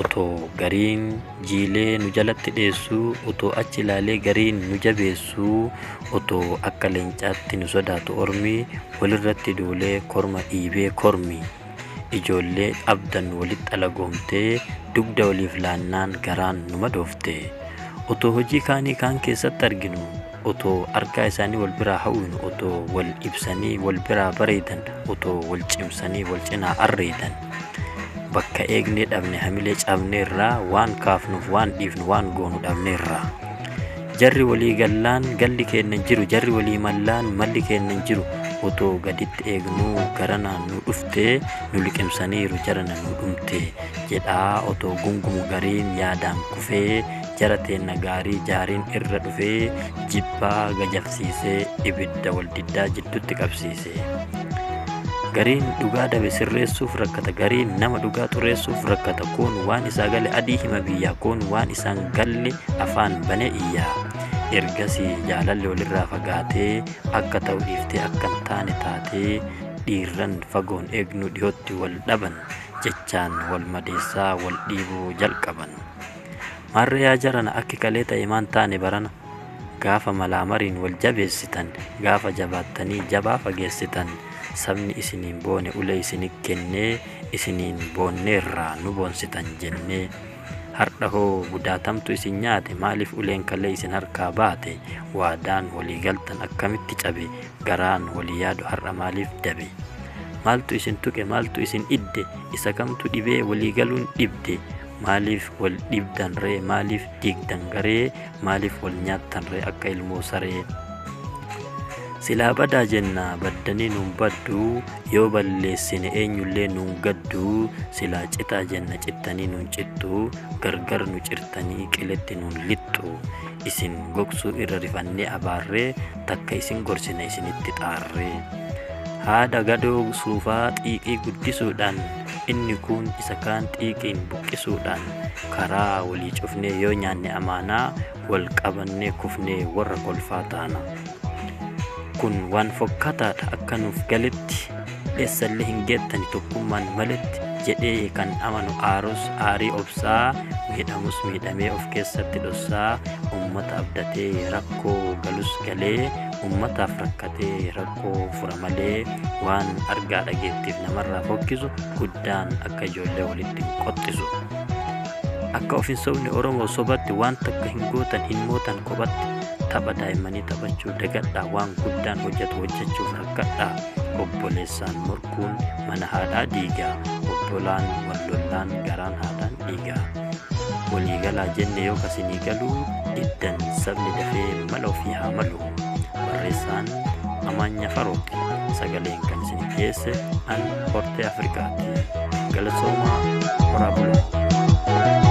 Otoo gariin jiilee nu jalatti dheessuu, otoo achi ilaalee gariin nu jabeessuu, otoo akka leencaatti nu sodaatu ormi, walirratti duulee korma dhiibee kormi. Ijoollee abdan walitti alagoomtee, dugda waliif laannaan garaan nu madoofte. Otoo hojii kaanii kaan keessatti arginu, otoo argaa isaanii wal biraa hawwinu otoo wal ibsanii wal biraa bareedan otoo wal cimsanii wal cinaa arreedan bakka eegnee dhabne hamilee cabne irraa waan kaafnuuf waan dhiifnu waan goonu dhabne irraa jarri walii gallaan galli keenna jiru jarri walii mallaan malli keenna jiru otoo gaditti eegnuu garanaan nu dhuftee nu liqimsaniiru jarana nu dhumte jedhaa otoo gungumu gariin yaadaan kufee jara teenna gaarii jaariin irra dhufee jibbaa gajafsiisee ibidda waldiddaa jiddutti qabsiise gariin dhugaa dabe sirreessuuf rakkata gariin nama dhugaa xureessuuf rakkata koon waan isaa gale adii hima biyyaa koon waan isaan galle afaan bane iyyaa ergasii jaalalli walirraa fagaatee akka ta'u dhiiftee akka hin taane taatee dhiirran fagoon eegnu dhiyootti wal dhaban jechaan wal madeessaa wal dhiibuu jalqaban. Marre yaa jarana akki kalee ta'e maan taane barana gaafa malaa mariin wal jabeessitan gaafa jabaattanii jabaa fageessitan sabni isiniin boone ulee isini kennee isiniin boonneerraa nu boonsitan jennee hardha hoo gudaatamtu isin nyaate maaliif uleen kalee isin harkaa baate waadaan walii galtan akkamitti cabe garaan walii yaadu har'a maaliif dabe maaltu isin tuqe maaltu isin idde isa kamtu dhibee walii galuun dhibde Maaliif wal dhibdan ree maaliif diigdan garee maaliif wal nyaattan ree akka ilmoo saree silaa badaa jenna baddanii nuun baddu yoo balleessine eenyullee nuun gaddu silaa citaa jenna cittanii nuun cittu gargar nu cirtanii qiletti nuun lixxu isin gogsuu irra rifannee abaarree takka isin gorsina isinitti xaarree haadha gadoo suufaa xiiqii guddisuudhaan Inni kuun isa kaan xiiqiin buqqisuudhaan karaa walii cufnee yoo nyaanne amaanaa wal qabannee kufnee warra kolfaa taana. Kun waan fokkataadha akka nuuf galetti eessallee hin geettani tokkummaan maletti jedhee kan amanu aarus aarii obsaa miidhamus miidhamee of keessatti dhossaa ummata abdatee rakkoo galus galee ummataaf rakkatee rakkoo rakkoo fura malee waan argaa dhageettiif namarraa fokkisu guddaan akka ijoollee walitti hin qoxxisu akka ofin sobni oromoo sobatti waan takka hin gootan hin mootan kophatti tapha daa'immanii taphachuu dagadhaa waan guddaan hojjetu hojjechuuf rakkadhaa obboleessaan morkuun mana haadhaa diigaa obbolaan wallollaan garaan haadhaan dhiigaa waliigalaa jenne yoo kasinii galuu diddan sabni dafee mala ofii haa malu barreessaan amaanya faruq sagaleen kan isin dhiyeesse an hortee afrikaatti galatoomaa horaa bulaa